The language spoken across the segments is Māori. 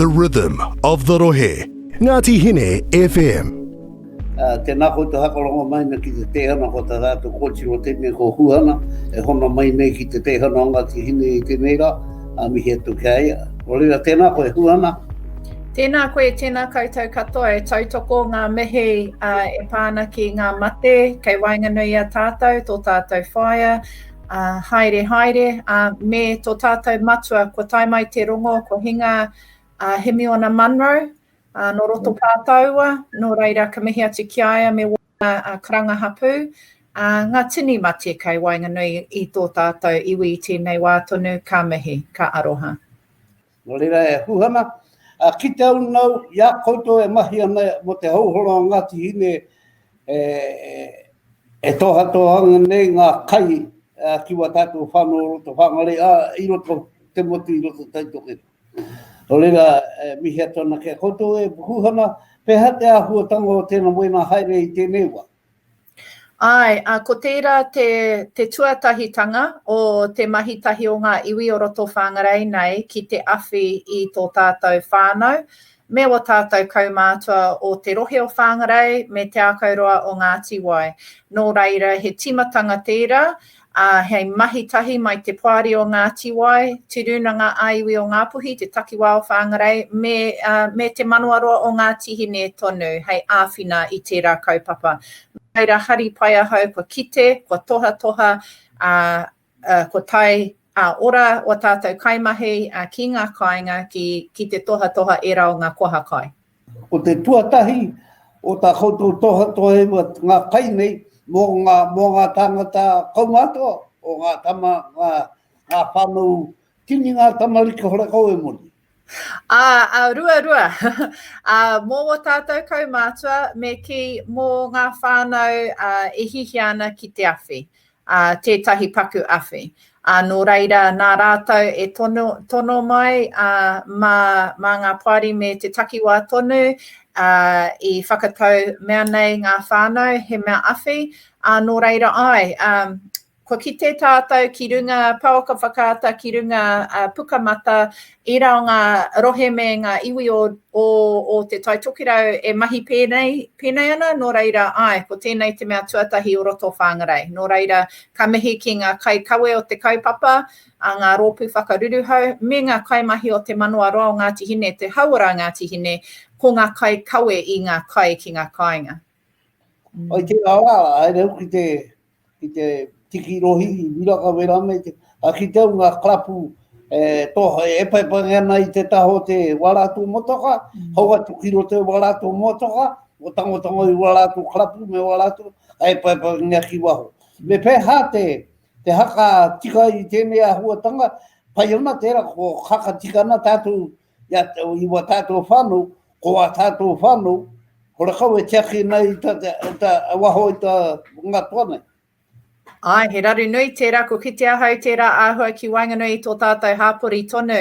The rhythm of the rohe, Ngati Hine FM. Tēnā koutou hakarongo mai nei ki te teihana ko tā rātou kōtiro tēnei ko Huhana e hono mai nei ki te teihana o Ngāti Hine i tēnei rā, ā, mihi atu ki a ia. Nō reira, tēnā koe Huhana. Tēnā koe, tēnā koutou katoa e tautoko ngā mihi e pā ana ki ngā mate kei waenganui i a tātou, tō tātou whaea, Uh, haere, haere, uh, me tō tātou matua, ko tai mai te rongo, ko hinga uh, Hemiona Munro, uh, no roto mm. pātaua, no reira ka mihi atu ki aia me wāna uh, karanga hapū, uh, ngā tini mate kai wainganui i tō tātou iwi i tēnei wā tonu, ka mihi, ka aroha. Nō reira e hū ana, ā, ki te au nāu i a koutou e mahi ana mō te houholo a Ngāti Hine e tōhatoha ana nei ngā kai ki wā tātou whānau o roto whāngare, ā, i roto te motu i roto Taitokerau. Nō reira, e mihi atu ana ki a koutou e hū ana, pēhea te āhuatanga o tēnā moenā haere i tēnei wā? Āe, ā, ko tērā te, te tuatahitanga o te mahi tahi o ngā iwi o roto Whāngarei nei ki te awhi i tō tātou whānau me ō tātou kaumātua o te rohe o Whāngarei me Te Ākauroa o Ngāti Wai. Nō reira, he tīmatanga tērā, ā, hei mahi tahi mai te Poari o Ngāti Wai, Te Rūnanga ā-Iwi o Ngāpuhi, te Takiwā o Whāngarei, me, ā, me Te Manawaroa o Ngāti Hine tonu hei āwhina i tērā kaupapa. Nō reira, hari pai ahau kua kite, kua tohatoha, ā, ā, kua tae ā-ora ō tātou kaimahi, ā, ki ngā kāinga ki, ki te tohatoha ērā o ngā koha kai. Ko te tuatahi o tā koutou tohatoha e rua ngā kai nei mō ngā, mō ngā tāngata kaumātua, o ngā tama, ngā, ngā whānau tini ngā tamariki horekau e Moni. Ā, ā, rua, rua. ā, mō wō tātou kaumātua, me kī, mō ngā whānau, ā, e hihia ana ki te awhi. ā, tētahi paku awhi. Ā, nō reira, nā rātou e tono, tono mai, ā, mā, mā ngā poari me te takiwā tonu, ā, i whakatau mea nei ngā whānau, he mea awhi, ā, nō reira, āe, ā, kua kite tātou ki runga paoka whakaata, ki runga, ā, pukamata, Ērā o ngā rohe me ngā iwi o Te Tai Tokerau e mahi pēnei ana, nō reira, āe, ko tēnei te mea tuatahi o roto o Whāngarei. Nō reira, ka mihi ki ngā kaikawe o te kaupapa, ngā rōpū whakaruruhau, me ngā kaimahi o Te Manawa Roa o Ngāti Hine, te hauora a Ngāti Hine, ko ngā kaikawe i ngā kai ki ngā kāinga. Ai tērā rā, haere au ki te, ki te tiki rohi, i Miraka me rānei, te, a ki te au ngā karapu e, toha, e paipangi ana i te taha o te wārāto motoka, mm. hau atu ki roto e wārāto motoka, o tangotango i wārāto karapu me wārāto, ai e paipangi a ki waho. Me pēhā te, te haka tika i tēnei ahuatanga, pai ana tērā ko haka tika ana tātou ia i wa tato whanu, ko wa tato whanu, ko ra kau e tiaki nei ta, ta, waho i ta ngatua nei. Ai, he raru nui tērā, ko kite ahau tērā āhua ki waenganui i tō tātou hāpori tonu.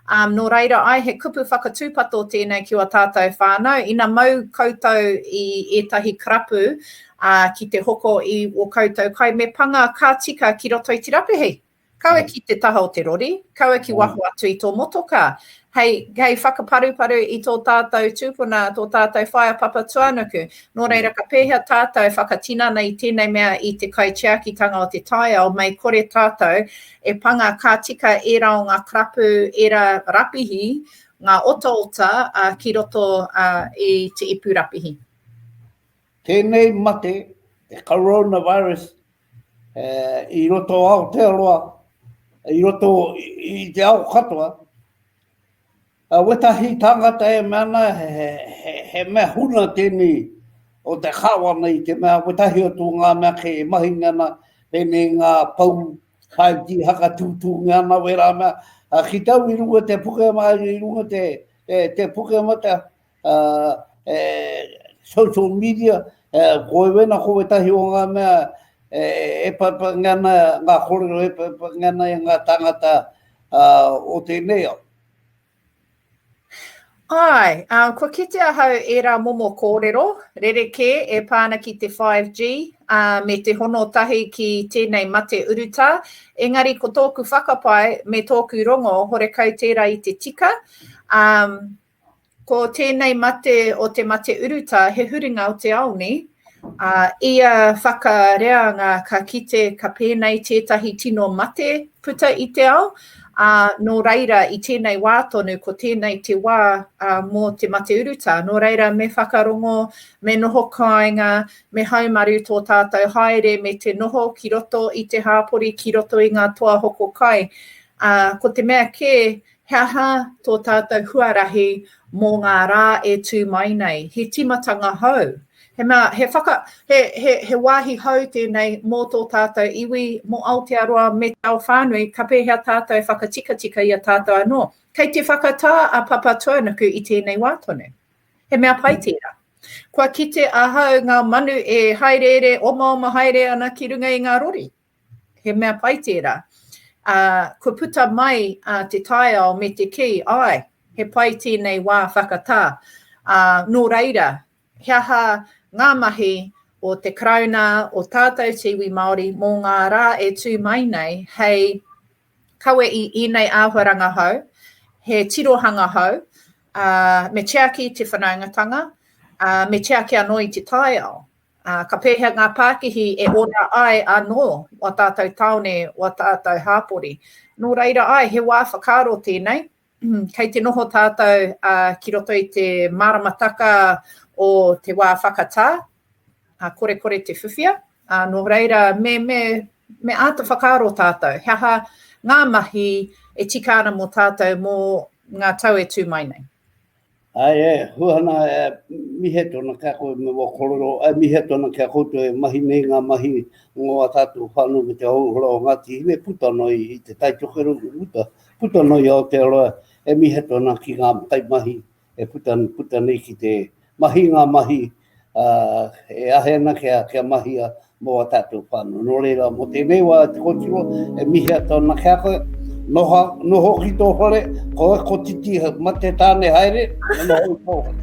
Um, nō reira ai, he kupu whakatūpato tēnei ki o tātou whānau. Ina mau koutou i ētahi karapu uh, ki te hoko i o koutou kai, me panga ka tika ki roto i te rapuhi. Kaua ki te taha o te rori, kaua ki waho atu i tō motokā. Hei, hei whakaparuparu i tō tātou tūpuna, tō tātou whaea papatuanuku. Nō reira, ka pēhea tātou e whakatinana i tēnei mea i te kaitiakitanga o te taiao, mei kore tātou e panga ka tika ērā o ngā karapu, ērā rapihi, ngā otaota ki roto i te ipu rapihi. Tēnei mate, te coronavirus, i roto o Aotearoa, i roto i te ao katoa, wetahi tāngata e mea ana he mea huna tēnei o te kāwana i te mea wetahi o tō ngā mea kē e mahi nei ana, pēnei ngā pou 5G hakatūtūngia ana wērā mea, ki te au i runga te Pukemata, i runga te Pukemata, Uh, e, social media, uh, koe wena ko wetahi o ngā mea e, e paipangi ana, ngā kōrero e paipangi ana e ngā tangata uh, o tēnei au. Ai, um, kua kite ahau ērā momo kōrero, rerekē e pāna ki te 5G, uh, me te hono tahi ki tēnei mate urutā, engari ko tōku whakapae me tōku rongo, horekau tērā i te tika, um, Ko tēnei mate o te mate urutā he huringa o te ao nē? Ā, ia whakareanga ka kite ka pēnei tētahi tino mate puta i te ao, ā, nō reira i tēnei wā tonu ko tēnei te wā mō te mate urutā. Nō reira me whakarongo, me noho kāinga, me haumaru tō tātou haere me te noho ki roto i te hāpori ki roto i ngā toa hoko kai. Ā, ko te mea kē, He aha tō tātou huarahi mō ngā rā e tū mai nei? He tīmatanga hou. He, mea, he, whaka, he, he, he wāhi hou tēnei mō tō tātou iwi, mō Aotearoa me te ao whānui, ka pēhea tātou e whakatikatika i a tātou anō? Kei te whakatā a Papatūānuku i tēnei wā tonu. He mea pai tērā. Kua kite ahau ngā manu e haereere, omaoma haere ana ki runga i ngā rori. he mea pai tērā. Ā, kua puta mai te taiao me te kī, āe, he pai tēnei wā whakatā. Ā, nō reira, he aha ngā mahi o te Karauna, o tātou te iwi Māori mō ngā rā e tū mai nei hei kawe i ēnei āhuaranga hou, he tirohanga hou, ā, me tiaki te whanaungatanga, ā, me tiaki anō i te taiao? Ā, ka pēhea ngā pākihi e ora ai anō ō tātou tāone, ō tātou hāpori? Nō reira, āe, he wā whakaaro tēnei. Kei te noho tātou ki roto i te māramataka o te wā whakatā, ā, korekore te whiwhia. Ā, nō reira, me, me, me āta whakaaro tātou, he aha ngā mahi e tika ana mō tātou mō ngā tau e tū mai nei? Ai e, huana e, mihe tona kia koe me wa korero, ai mihe tona kia koutou e mahi nei nga mahi ngo a tatou whanu me te houhora o Ngati Hine puta noi i te tai tokerau i uta, puta noi i Aotearoa, e mihe tona ki nga kaimahi e puta nei ki te mahi nga mahi ā, e ahe ana kia, kia mahia mō ā tātou whānau. Nō reira, mō tēnei wā, e te kōtiro, e mihi atu ana ki a koe, noho, noho ki tō whare, koe ko titi mate tāne haere, e noho i tō whare.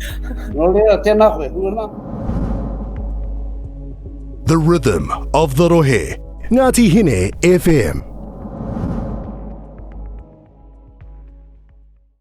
Nō reira, tēnā koe, huana. The Rhythm of the Rohe, Ngati Hine FM.